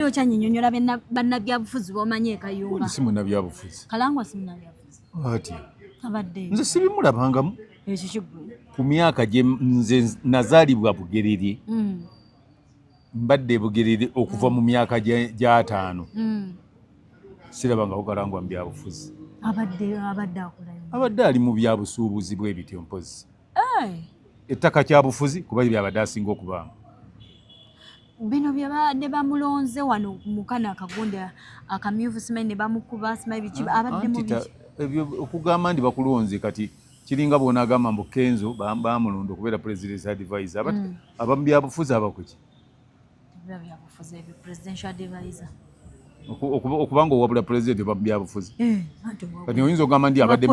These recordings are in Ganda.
Naye okyanyinyonyola bannabyabufuzi bomanyi ekayumba. Si munnabyabufuzi. Kalangwa si munnabyabufuzi. Ati. Abadde. Nze sibimulabangamu. Ekyo kiggwe. Ku myaka gye nze nazaalibwa Bugerere. Mm. Mbadde Bugerere okuva mu myaka gy'ataano. Mm. Sirabangako Kalangwa mu byabufuzi. Abadde abadde akola. Abadde ali mu byabusuubuzi bw'ebityo mpozi. Ettaka kyabufuzi kuba byabadde asinga okubaamu. bino bye babadde bamulonze wano mukana akagonda akamyufu simanyi ne bamukuba simanyi biki ah, abadde mu biki ebyo okugamba ndi bakulonze kati kiringa bona agamba mbu Kenzo bamulonda okubeera president's advisor but mm. abamu byabufuzi abakuki okubanga owabula president oba mubyabufuzi eh, kati oyinza okugamba ndi abadde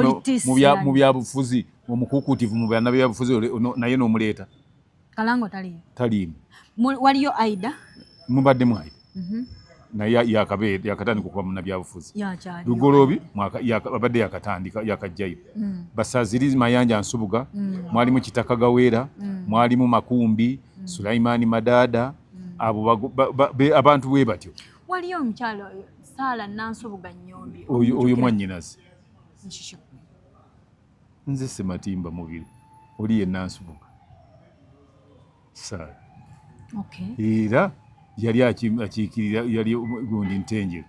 mu byabufuzi omukukutivu mu byanabyabufuzi naye nomuleeta Kalango taliimu. Taliimu. Waliyo Aida. Mubadde mu Aida. Mhm. naye yakabeera yakatandika okuba munabyabufuzi lugoloobi abadde yakatandika yakajjayo mm. basaziri mayanja nsubuga mm. mwalimu kitaka gaweera mm. mwalimu makumbi sulaimaani madaada abo abantu bwe batyo waliyo omukyalo saala nansubuga nyombi oyo mwanyinazi nze sematimba mubiri oli yenna nsibuka saala era yali akiikirira yali gundi ntenjeru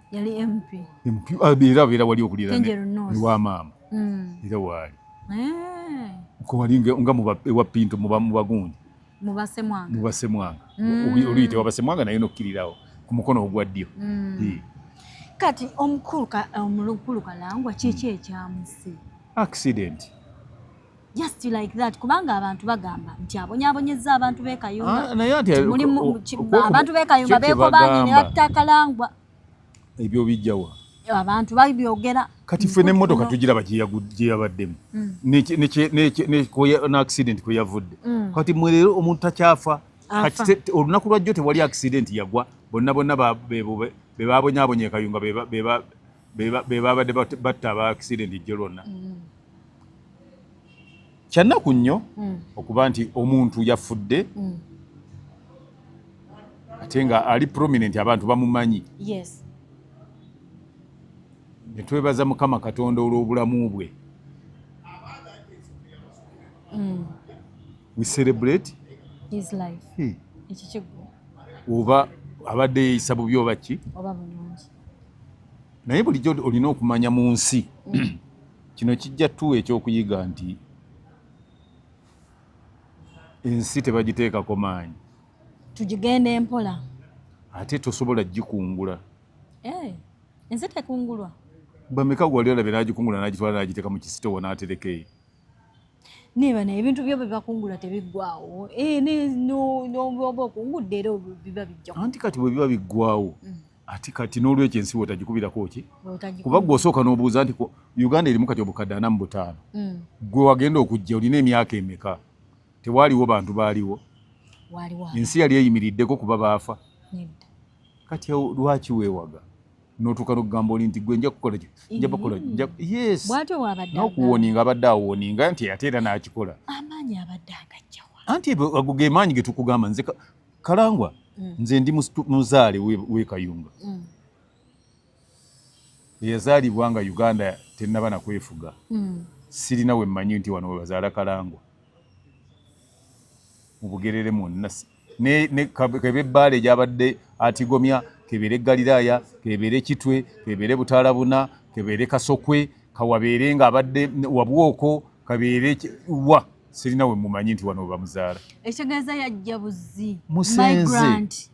ah, era abeera wali okulira ewa maama mm. era waali eh. nga ewa pinto mubagundi mubasemwanga mubasemwanga mm. oluyite wabasemwanga naye nokkirirawo ku mukono ogwa ddyo mm. kati omukulu kalangwa kiki mm. ekyamuse accident just like that kubanga abantu bagamba nti abonyabonyeza abantu bekayumba ah, abantu bekayumba bekobanyi nebatta kalangwa ebyo bijjawa abantu babyogera kati ffe n'emmotoka tugira bagye yabaddemu mm. n'accident kwe yavudde mm. kati mwe leero omuntu takyafa olunaku lwajjo tewali accident yagwa bonna bonna be babonyabonya ekayunga be babadde batta aba accident ejjo lwonna mm. Kyannaku nnyo hmm. okuba nti omuntu yafudde hmm. ate nga ali prominent abantu bamumanyi netwebaza mukama katonda olw'obulamu bwe hmm. we celebrate his life ekikigwa oba abadde yeyisa bubi oba ki naye bulijjo olina okumanya mu nsi Kino kijja tuwa ekyokuyiga nti ensi tebagiteekako maanyi, tugigenda empola ate tosobola gikungula. Eh, ensi tekungulwa. Bameka gwali olabye n'agikungula n'agitwala n'agiteeka mu kisitowa n'atereka eyo? naye bana ebintu byo bebakungula tebiggwawo eh, n'oba okungudde era biba bijja anti kati bwe biba biggwawo mm. ati kati n'olwekyo ensi wotagikubirako ki kuba gwe osooka n'obuuza nti uganda erimu kati obukadde ana mu butaano mm. gwe wagenda okujja olina emyaka emeka tewaaliwo bantu baaliwo ensi yali eyimiriddeko kuba baafa kati lwaki weewaga notuuka nokugamba oli nti gwe nja kukola nja bakola yes nokuwoninga abadde awoninga nti ate era nakikola anti ago ge maanyi getukugamba nze Kalangwa mm. nze ndi muzaale we Kayunga mm. eyazaalibwa nga Uganda tennaba na kwefuga mm. sirina we mmanyi nti wano webazaala Kalangwa mu Bugerere mwonna ne, ne kebe bbaale gyabadde atigomya kebeere Galiraaya kebeere Kitwe kebeere Butaalabuna kebeere Kasokwe kawabeere ng'abadde wabwoko kabeere wa sirina we mumanyi nti wano bamuzaala ekitegeeza yajja buzzi musenze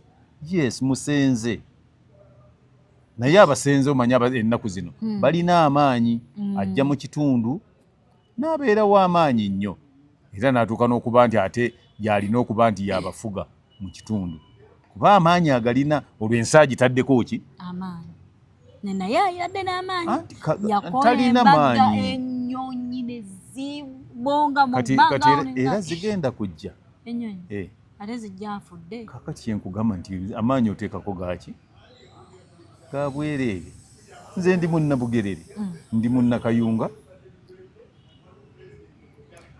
yes musenze naye abasenze omanya ennaku zino hmm. balina amaanyi hmm. ajja mu kitundu n'abeerawo amaanyi nnyo era n'atuuka n'okuba nti ate yalina okuba nti yabafuga mu kitundu kuba amaanyi agalina olwo ensi agitaddeko ki amaanyi naye ayadde n'amaanyi yakola maanyi ennyonyi ne zibonga mu bbanga era zigenda kujja ennyonyi eh. ate zijja afudde kakati kyenkugamba nti amaanyi oteekako gaaki kabwereere nze ndi munnabugerere mm. ndi munnakayunga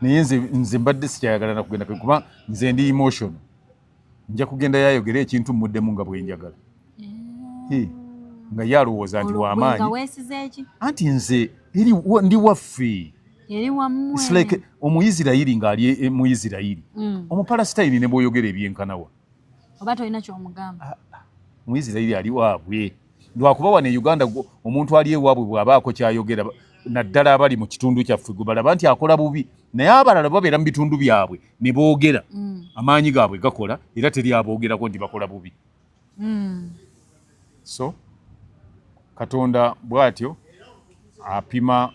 naye nze mbadde sikyayagala nakugenda kuba nze ndi emotion nja kugenda yayogera ekintu mmuddemu nga bwenjagala eh. nga ye alowooza nti wamaanyi anti nze ndi waffe like omuisirairi ng'ali e, mu isirairi mm. omupalasitayini ne bwoyogera ebyenkanawa oba tolina kyomugamba ah, ah. muisirairi ali waabwe lwakuba wano e uganda omuntu ali ewaabwe bwabaako kyayogera naddala abali mu kitundu kyaffe gwe balaba nti akola bubi naye abalala babeera mu bitundu byabwe ne boogera mm. amaanyi gaabwe gakola era teri aboogerako nti bakola bubi mm. so katonda bwatyo apima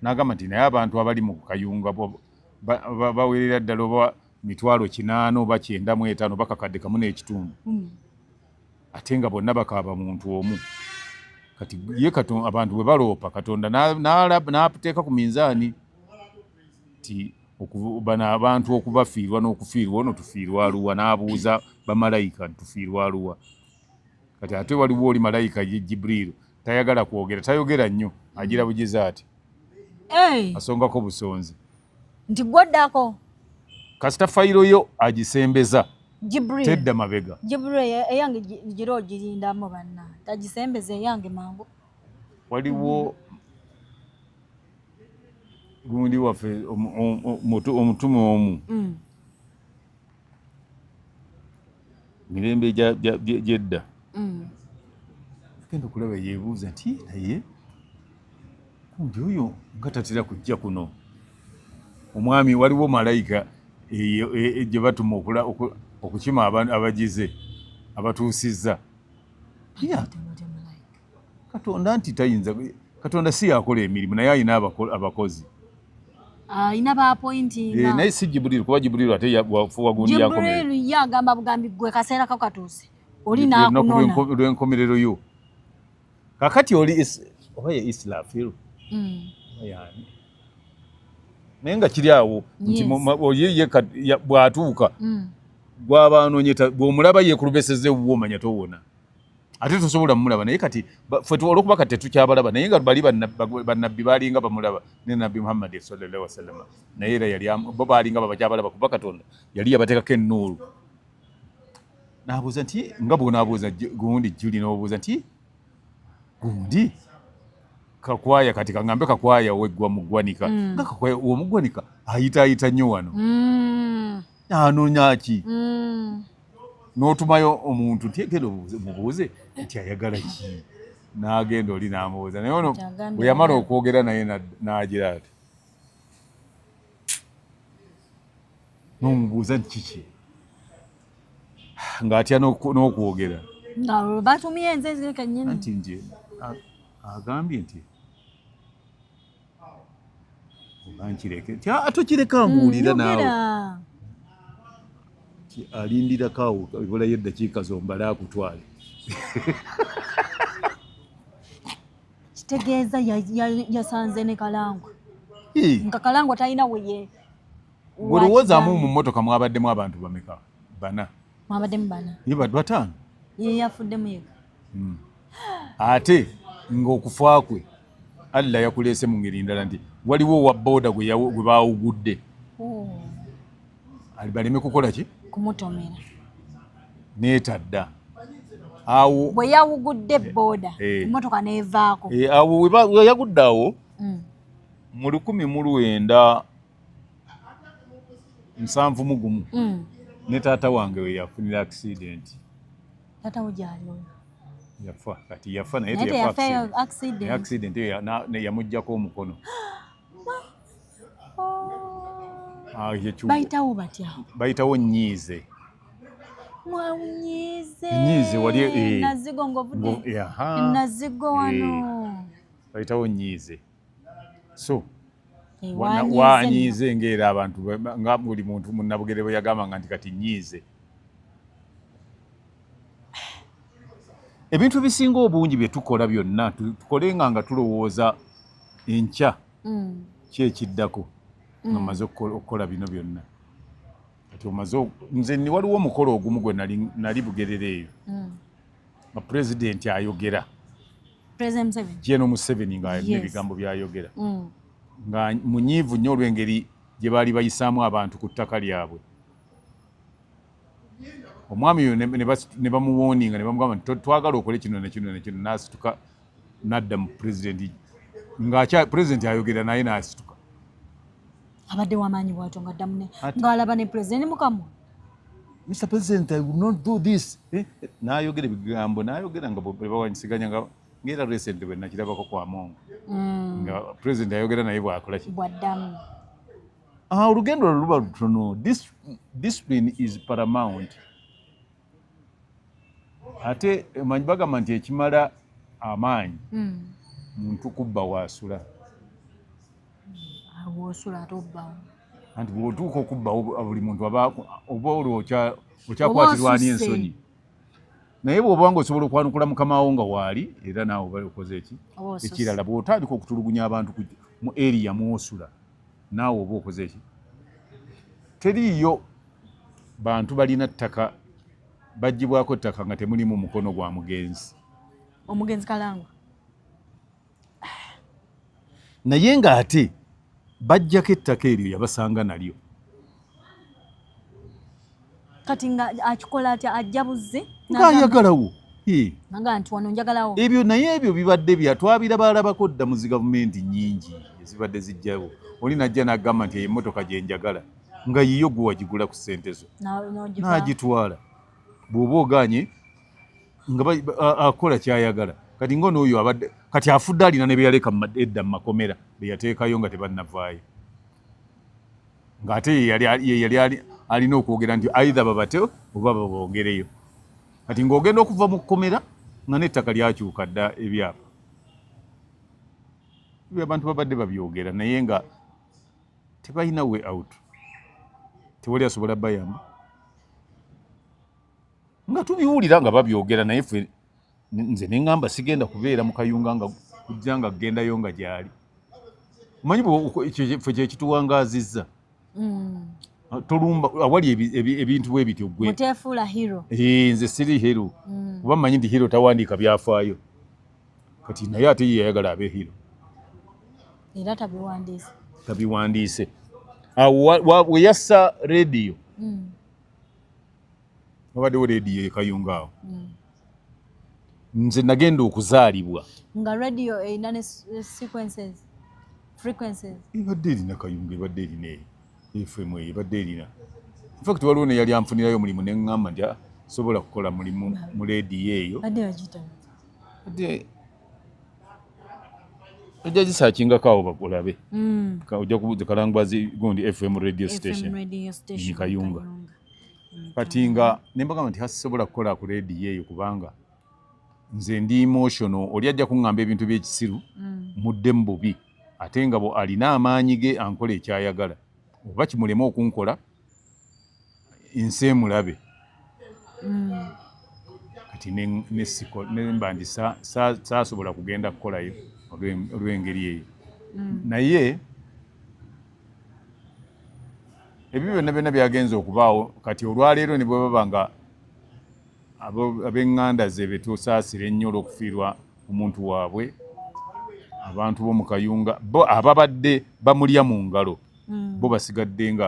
nagamba nti naye abantu abali mu kayunga bawerera ddala oba mitwalo kinaana oba kyenda mu etaano oba kakadde kamu n'ekitundu hmm. ate nga bonna bakaaba muntu omu kati ye katonda abantu bwe baloopa katonda n'ateeka ku minzaani nti bano abantu okubafiirwa n'okufiirwa ono tufiirwa aluwa n'abuuza bamalayika ntufiirwa aluwa kati ate waliwo oli malayika ye jibriiru tayagala kwogera tayogera nnyo agira bugize ati asongako busonzi nti gwoddako kasita fayiro yo agisembeza tedda mabega eyange gira ogirindamu banna tagisembeza eyange mangu waliwo gundi waffe omutume omu mm. mirembe gyedda mm. genda okulaba yebuuza nti naye kumbi oyo nga tatera kujja kuno omwami waliwo malayika e, gye batuma okukima abagize abatuusizza katonda nti tayinza katonda si yakola emirimu naye alina abakozi alina ah, bapointinga eh, naye si jibuliru kuba jibuliru ate wagumiyajibuliru ye agamba bugambi gwe kaseera ko katuuse oli nakunonalwenkomerero yo kakati oli oba ye islafiru hmm. yani naye nga kiri awo nti ye bwatuuka hmm. gwaba anonyeta bwomulaba yekulubeseza ewuwo omanya towona ate tosobola mulaba naye kati fe olwokuba kati tetukyabalaba naye nga bali banabbi balinga bamulaba ne nabbi muhammadi sallallahu wasallama naye era yali bo balinga babakyabalaba kuba katonda yali yabatekako ennuulu nabuuza nti nga bwonabuuza gundi juli nobuuza nti gundi kakwaya kati kangambe kakwaya weggwa mugwanika mm. nga kakwaya omugwanika ayitaayita nnyo wano mm. anoonya ki mm. n'otumayo omuntu nti genda mubuuze nti ayagala ki n'agenda oli n'amubuuza naye ono bwe yamala okwogera naye n'agira ati n'omubuuza nti kiki ng'atya n'okwogera batumye nze nti nti agambye nti onankireke tokireka ah, mbuulire mm, naawe alindirako awo ebulayo eddakiika zombale akutwale kitegeeza yasanze ne kalangwa nga kalangwa talina weye olowoozamu mu mmotoka mwabaddemu abantu bameka bana mwabaddemu bana ye bad bataano ye yafuddemu yeka hmm. ate ng'okufa kwe Allah yakuleese mu ngeri ndala nti waliwo owa boda gwe baawugudde hmm. baleme kukola ki kumutomera neetadda awo bwe yawugudde eh, boda eh. emotoka neevaako eh, awo weyagudde awo hmm. mu lukumi mu lwenda nsanvu mu gumu hmm. ne taata wange weyafunira akisidenti Tata wo gyali oyo? Yafa kati yafa naye teyafa accident. Accident eyo ne yamujjako omukono. Ah, bayitawo batya? Bayitawo nyiize. Mwanyiize. Nyiize wali eh. Nazigo ngovude. Nazigo wano. Eh. Bayitawo nyiize. so wanyiize ngaera abantu nga buli muntu munabugere bwe yagambanga nti kati nyiize ebintu ebisinga obungi bye tukola byonna tukolenga nga tulowooza enkya mm. kyekiddako mm. nga maze okukola bino byonna kati omaze nze ni waliwo omukolo ogumu gwe nali bugerere eyo mm. nga pulezidenti ayogera Gen Museveni nga alina ebigambo byayogera mm. nga munyiivu nnyo olw'engeri gye baali bayisaamu abantu ku ttaka lyabwe omwami oyo ne bamuwoninga ne bamugamba nti twagala okole kino nekino nekino n'asituka n'adda mu pulezidenti nga pulezidenti ayogera naye n'asituka abadde wamaanyi bwatyo nga ddamu ng'alaba ne pulezidenti mukamu Mr. President, I will not do this. Eh? Nayogera ebigambo, nayogera nga bebawanyisiganya nga ngera recent bwe nakirabako kwa Mongo. Mm. Nga president ayogera naye bwakola ki? Bwaddamu. Ah, olugendo luba lutono. Discipline is paramount. ate manyi bagamba nti ekimala amaanyi hmm. muntu kubba waasula wosula ate obbawo anti bwotuuka okubbawo buli muntu aba oba olwo okyakwatirwani ensonyi naye bwoba nga osobola okwanukula mukamawo nga waali era naawe oba okoze eki ekirala bwotandika okutulugunya abantu mu eriya mwosula naawe oba okoze eki teriiyo bantu balina ttaka bagibwako ttaka nga temulimu mukono gwa mugenzi omugenzi kalangwa naye nga ate bajjako ettaka eryo yabasanga nalyo kati nga akikola atya ajja buzze ngaayagalawo ebyo naye ebyo bibadde bya twabira balabako dda mu zi gavumenti nyingi ezibadde zijjawo oli najja nagamba nti emotoka gyenjagala nga yiyo gwe wagigula ku ssente zo n'agitwala bw'oba oganye nga akola kyayagala kati nga onooyo abadde kati afudde alina ne beyaleka edda mu makomera beyateekayo nga tebannavaayo ng'ate yeyali alina okwogera nti aidha babate oba babongereyo kati ng'ogenda okuva mu kkomera nga n'ettaka lyakyuka dda ebyapa abantu babadde babyogera naye nga tebalina way out tewali asobola bayamba nga tubiwulira nga babyogera naye fe nze nengamba sigenda kubeera mukayunga nga kujja nga kugendayo nga gyali omanyi fe kyekituwangazizza mm. ah, tolumba awali ebintu bwe bityo gwenze siri hero mm. kuba manyi nti hero tawandiika byafaayo kati naye ate ye yayagala abe hero era tabiwandiise tabiwandiise awo weyassa rediyo mm. wabaddewo rediyo ekayunga awo mm. nze nagenda okuzaalibwa nga radio erina ne sequences frequencies ebadde erina kayunga ebadde erina eyo FM eyo ebadde erina infact waliwo neyali anfunirayo omulimu neŋŋamba nti ah, sobola kukola mulimu mu leediyo eyo ojja gisakingako awo bakulabe hmm. ojja kubuuza kalangwazi gundi fm radio station ni kayunga kati nga nembagamba nti hasisobola kukola ku leediyo eyo kubanga nze ndi emotional oli ajja kuŋŋamba ebintu by'ekisiru hmm. mudde mu bubi ate nga bwe alina amaanyi ge ankola ekyayagala oba kimulema okunkola ensi emulabe mm. kati nemba nti saasobola kugenda kukolayo olw'engeri eyo mm. naye ebyo byonna byonna byagenza okubaawo kati olwaleero ne bwe baba nga ab'eŋŋanda ze be tusaasira ennyo olw'okufiirwa omuntu waabwe abantu bo mu kayunga bo ababadde bamulya mu ngalo hmm. bo basigadde nga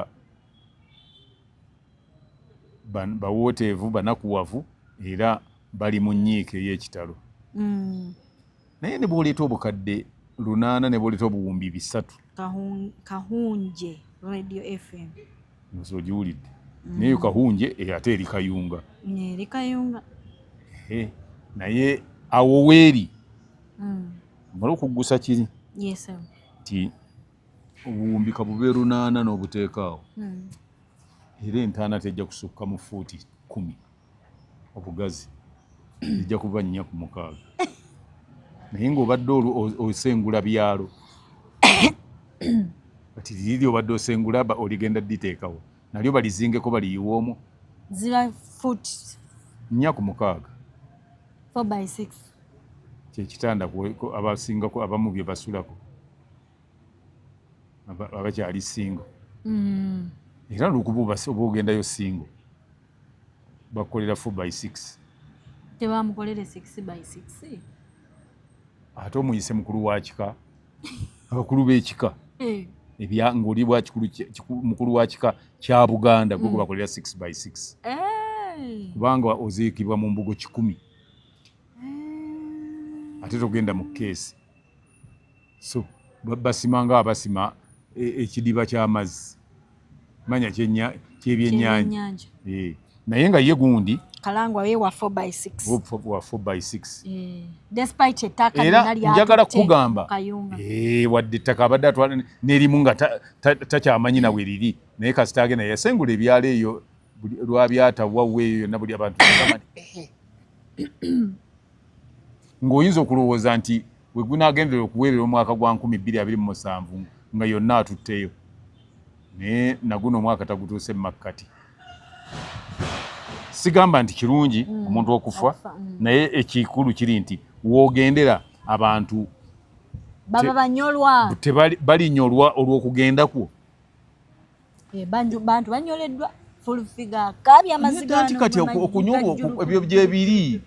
bawooteevu banakuwavu era bali mu nnyiika ey'ekitalo hmm. naye ne bw'oleeta obukadde lunaana ne bw'oleeta obuwumbi bisatu kahunje radio fm nze ogiwulidde mm. naye kahunje eh, ate eri kayunga eri kayunga naye awo weeri mm. mala okuggusa kiri nti obuwumbi kabube lunaana n'obuteekaawo mm. era entaana tejja kusukka mu fuuti kumi obugazi ija kuba nnya ku mukaaga naye ng'obadde osengula byalo kati liri obadde osengula oligenda diteekawo nalyo balizingeko baliyiwa omu ziba fut nnya ku mukaaga kyekitanda abasingako abamu bye basulako abakyali singo mm. era lukuba oba ogendayo singo bakolera 4 by 6 tebamukolere 6 by 6 ate omuyise mukulu wa kika abakulu b'ekika eh. ebya ng'oli bwa mukulu wa kika kya buganda gwe gwebakolera hmm. 6 by 6 eh. kubanga oziikibwa mu mbugo kikumi eh. ate togenda mu keesi so basima nga abasima e, ekidiba kyamazzi manya kyebyenyanja eh. naye nga ye gundi era njagala kukugamba eh, wadde ettaka abadde atwala nerimu nga takyamanyi nawe mm. liri naye kasita agenda yasengula ebyalo eyo lwabyatawawo eyo yonna buli abantu ng'oyinza okulowooza nti we gunaagenderera okuweerera omwaka gwa nkumi bbiri abiri mu musanvu nga yonna atutteyo naye naguno omwaka tagutuuse mu makkati sigamba nti kirungi mm. omuntu okufa mm. naye ekikulu kiri nti woogendera abantu baba banyolwa tebalinyolwa olw'okugenda kwo Eh, bantu banyoleddwa fulfiga kabi amazigaanti kati okunyolwa ebyo gyebiri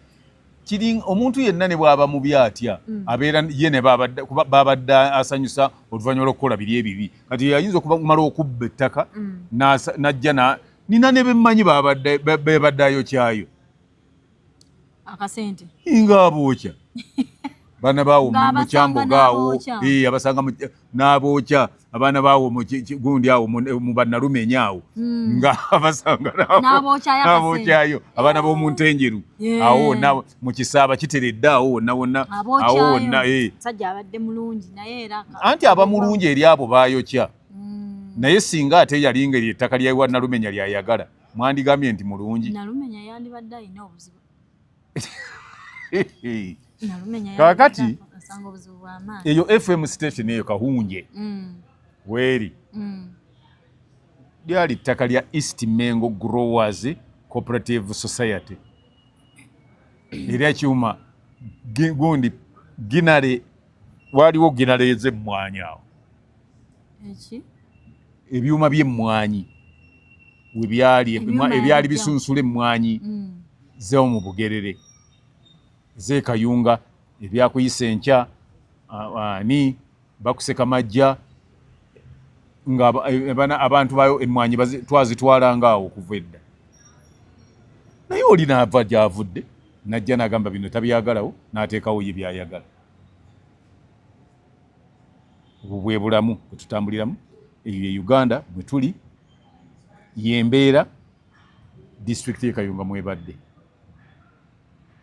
kiri omuntu yenna ne bwaba mubi atya mm. abeera ye ne babadde asanyusa oluvannyuma lwokukola biri ebibi kati yayinza okumala okubba ettaka mm. najja nina ne bemmanyi bebadde ayokyayo akasente nga abookya baana baawo mukyambo gaawo abasanga n'abookya abaana baawo gundi awo mu bannalumenya awo hmm. nga abasanga n'abookyayo abaana b'omu ntenjeru awo wonna mu kisaaba kiteredde awo wonna wonna awo wonna eh. anti aba mulungi eri abo baayokya hmm. naye singa ate yali ngeri ettaka lyawa nalumenya lyayagala mwandigambye nti mulungi nalumenya yandibadde alina obuzibu kakati eyo fm station eyo kahunje mm. weeri mm. lyali ttaka lya east mengo growers cooperative society erya kyuma gundi ginale waliwo ginale ez'emmwanyi awo ebyuma by'emmwanyi we byali ebyali bisunsula emmwanyi mm. zewo mu bugerere zekayunga ebyakuyisa enkya ani bakuseka majja nga e, abantu bayo emmwanyi twazitwalanga awo okuva edda naye oli naava gyavudde najja nagamba bino tabyagalawo nateekawo ye byayagala obwo bwe bulamu bwe tutambuliramu eyo ye uganda bwe tuli yembeera disitulikiti yekayunga mwebadde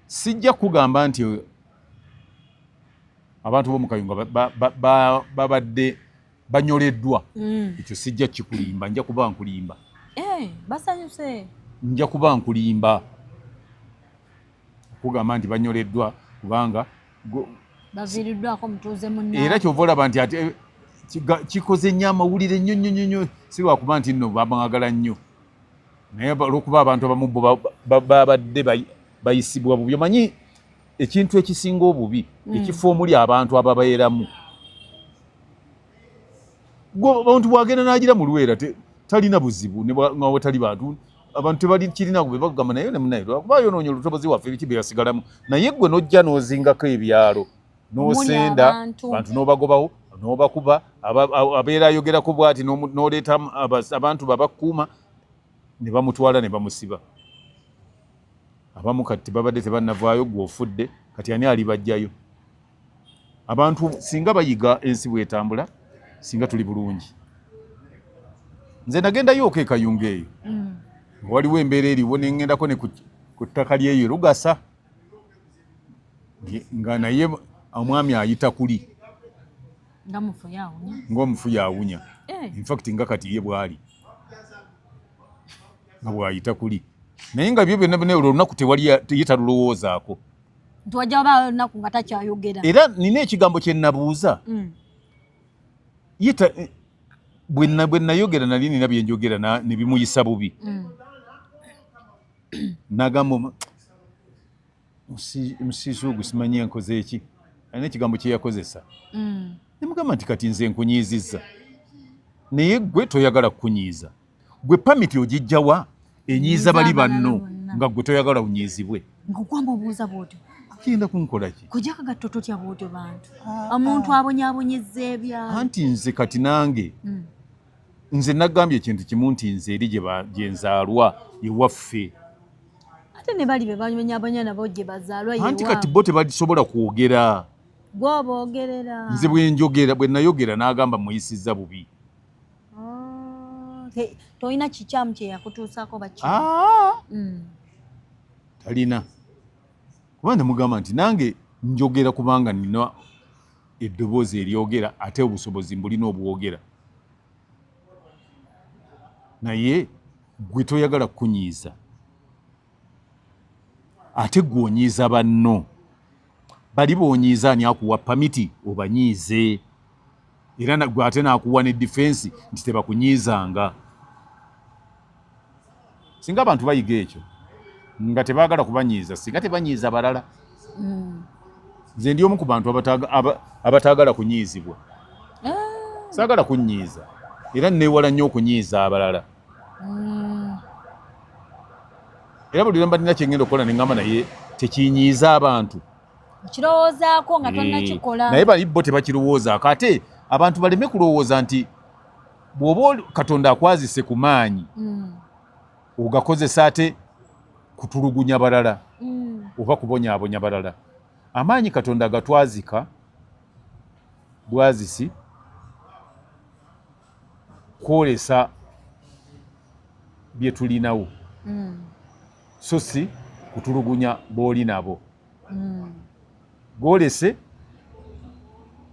sijja kugamba nti abantu bomukayunga babadde banyoleddwa mm. ekyo sijja kikulimba nja kuba nkulimba eh, basanyuse nja kuba nkulimba okugamba nti banyoleddwa kubanga baviiriddwako mutuuze munna era kyova olaba nti ate eh, kikoze nnyo amawulire nnyo nnyo nnyo si lwakuba nti nno bamwagala nnyo naye olwokuba abantu abamu babadde bayisibwa bubi omanyi ekintu ekisinga obubi hmm. ekifo omuli abantu ababeeramu omuntu bwagenda nagira mu luweera talina buzibu newatali bantu abantu tebalikirina gwe bagamba naye nemunaye lwakuba yonoonye olutobozi waffe ebiki bye yasigalamu naye gwe nojja n'ozingako ebyalo n'osenda bantu n'obagobawo n'obakuba abeera ayogerako bwati n'oleeta abantu babakuuma ne bamutwala ne bamusiba abamu kati babadde tebanavaayo gwe ofudde kati ani alibajjayo abantu singa bayiga ensi bwetambula singa tuli bulungi nze nagendayo okekayunga eyo mm. waliwo embeera eriwo nengendako ne ku ttaka lyeyo lugasa nga naye omwami ayita kuli ngaomufu yawunya eh. infact nga kati ye bwali nga bwayita kuli naye nga byo byonna byona olunaku tewali ye talulowoozaako nti wajja wabaawo olunaku nga takyayogera era nina ekigambo kye nnabuuza mm. yita eh, bwe nnayogera nali nina bye njogera ne bimuyisa bubi mm. nagamba musiisi ogwo simanyi enkoze eki alina ekigambo kye yakozesa mm. ne mugamba nti kati nze nkunyiizizza naye gwe toyagala kukunyiiza gwe pamiti ogijjawa enyiiza bali banno nga gwe toyagala unyiizibwe ngaokwamba obuuza bwotyo kiyinda kunkolaki kujja kagatto totya bwotyo bantu ah, ah. omuntu abonyabonyeza ebya anti nze kati nange hmm. nze nagambye ekintu kimu nti nze eri gyenzaalwa ewaffe ate ne bali be bamenyabonya nabo gye bazaalwa anti kati bo tebalisobola kwogera gwoboogerera nze bwenjogera bwe nayogera n'agamba muyisizza bubi Ah, tolina kikyamu kyeyakutuusako baki ah! mm. talina kuba nemugamba nti nange njogera kubanga nina eddoboozi eryogera ate obusobozi mbulina obwogera naye gwe toyagala kukunyiiza ate gwe onyiiza banno bali bonyiiza ani akuwa pamiti obanyiize era nagwe ate nakuwa ne defense nti tebakunyiizanga singa abantu bayiga ekyo nga tebagala kubanyiiza singa tebanyiiza balala mm. nze ndi omu ku bantu abataagala kunyiizibwa ah. saagala kunyiiza era newala nnyo okunyiiza abalala mm. era buli lwemba nina kyengenda okukola nengamba naye tekinyiiza abantu okirowoozaako nga tonnakikola eh, naye bali bo tebakirowoozaako ate abantu baleme kulowooza nti bw'oba katonda akwazise ku maanyi mm. ogakozesa ate kutulugunya balala mm. oba kubonyabonya balala amaanyi katonda agatwazika bwazisi kwolesa bye tulinawo mm. so si kutulugunya booli nabo hmm. golese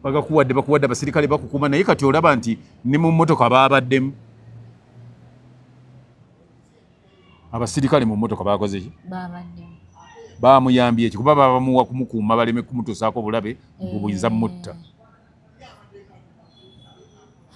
bagakuwadde bakuwadde abasirikale bakukuma naye kati olaba nti ne mu mmotoka babaddemu abasirikale mu mmotoka bakozeki bamuyambye eki kuba babamuwa kumukuuma baleme kumutuusaako obulabe mbu buyinza mutta eh.